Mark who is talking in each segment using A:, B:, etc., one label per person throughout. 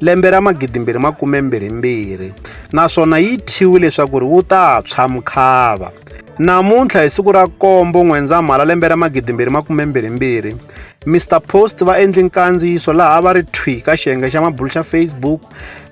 A: lembe ra 2022 naswona yi thyiwi leswaku ri wu ta tshwa mukhava. Namuntlha hi siku ra nkombo N'wendzamhala lembe ra 2022, Mister Post va endli nkandziyiso laha va ri thwi ka xiyenge xa mabulu xa Facebook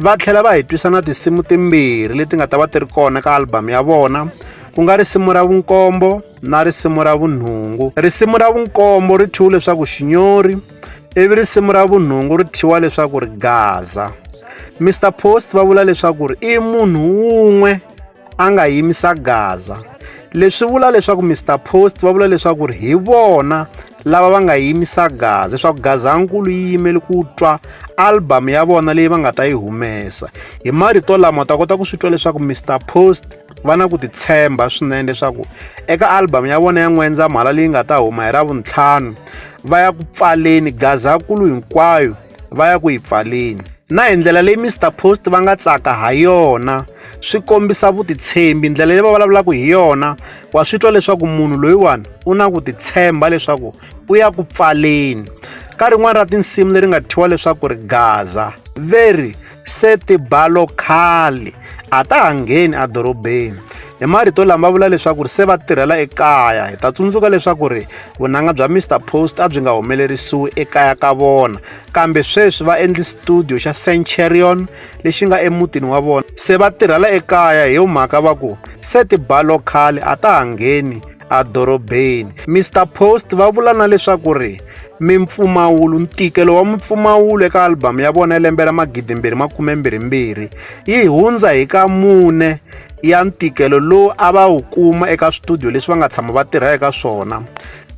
A: va tlhela va hi twisa na tinsimu timbirhi leti nga ta va ti ri kona ka album ya vona ku nga risimu ra vunkombo na risimu ra vunhungu. Risimu ra vunkombo ri thyiwe leswaku Xinyori. ivi risimu ra vunhungu ri thyiwa leswaku ri gaza mr post va vula leswaku ri i munhu wun'we a nga yimisa gaza leswi vula leswaku mr post va vula leswaku ri hi vona lava va nga yimisa gaza leswaku gazankulu yi yimele ku twa album ya vona leyi va nga ta yi humesa hi marito lama ta kota ku swi twa leswaku mr post va na ku titshemba swinene leswaku eka album ya vona ya n'wendzamhala leyi nga ta huma hi ravuntlhanu va ya ku pfaleni gazakulu hinkwayo va ya ku yi pfaleni na hi ndlela leyi mr post va nga tsaka ha yona swi kombisa vutitshembi ndlela leyi va vulavulaka hi yona wa swi twa leswaku munhu loyiwani u na ku titshemba leswaku u ya ku pfaleni ka rin'wana ra tinsimu leri nga thyiwa leswaku ri gaza veri Se tibalo khale a ta ha ngheni edorobeni. Hi marito lama va vula leswaku ri se va tirhela ekaya. Hi ta tsundzuka leswaku ri vunanga bya Mister Post a byi nga humelerisiwi ekaya ka vona, kambe sweswi va endli studio xa Centurion lexi nga emutini wa vona. Se va tirhela ekaya hi yo mhaka va ku se tibalo khale a ta ha ngheni edorobeni. Mister Post va vula na leswaku ri. Mimpfumawulo, Ntikelo wa mimpfumawulo eka albhamu ya vona ya lembe ra 2022 yi hundza hi ka mune ya ntikelo lowu a va wu kuma eka switudiyo leswi va nga tshama va tirha eka swona,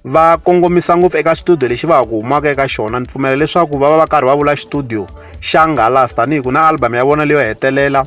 A: va kongomisa ngopfu eka xitudiyo lexi va ha ku humaka eka xona. Ni pfumela leswaku va va va karhi va vula xitudiyo xa Nghalas tanihi ku na albhamu ya vona leyo hetelela.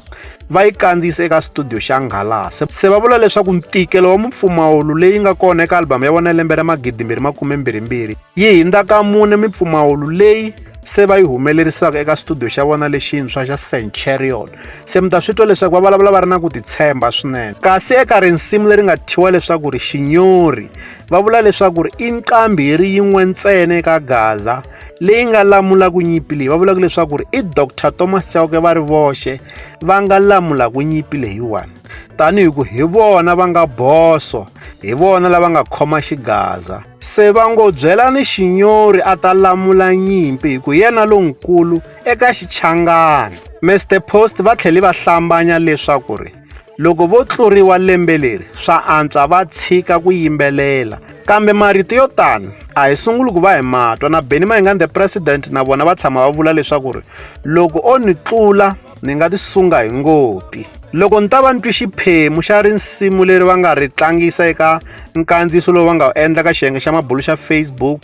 A: va yi kandziyise eka studio xa nghalase se va vula leswaku ntikelo wa mipfumawulo leyi nga kona eka albhamu ya vona ya lembe ra magidimbirhi makumembirhimbirhi yi hindza ka mune mipfumawulo leyi se va yi humelerisaka eka studio xa vona lexintshwa xa centurion se mi ta swi twa leswaku va vulavula va ri na ku titshemba swinene kasi eka rinsimu leri nga thyiwa leswaku ri xinyori va vula leswaku ri i nqambi hi ri yin'we ntsena eka gaza leyi nga lamulaka nyimpi leyi va vulaka leswaku ri i dr thomas chauke va ri voxe va nga lamula ku nyimpi leyiwani tanihi ku hi vona va nga boso hi vona lava nga khoma xigaza se va ngo byelani xinyori a ta lamula nyimpi hi ku yena lonkulu eka xichangani mr post va tlhele va hlambanya leswaku ri Loko vo tluriwa lembe leri, swa antswa va tshika ku yimbelela. Kambe marito yo tano a hi sunguli ku va hi matwa na Benny Mayengani the President na vona va tshama va vula leswaku ri loko o ni tlula ni nga tisunga hi ngoti. Loko ni ta va ni twi xiphemu xa risimu leri va nga ri tlangisa eka nkandziyiso lowu va nga wu endla ka xiyenge xa mabulu xa Facebook,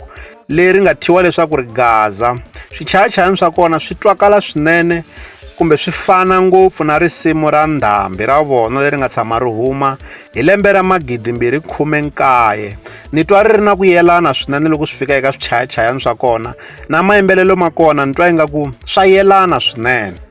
A: leri nga thyiwa leswaku ri gaza swichayachayani swa kona swi twakala swinene kumbe swi fana ngopfu na risimu ra ndhambi ra vona leri nga tshama ri huma hi lembe ra magidimbirhi khume nkaye ni twa ri ri na ku yelana swinene loko swi fika eka swichayachayani swa kona na mayimbelelo ma kona ni twa ingaku swa yelana swinene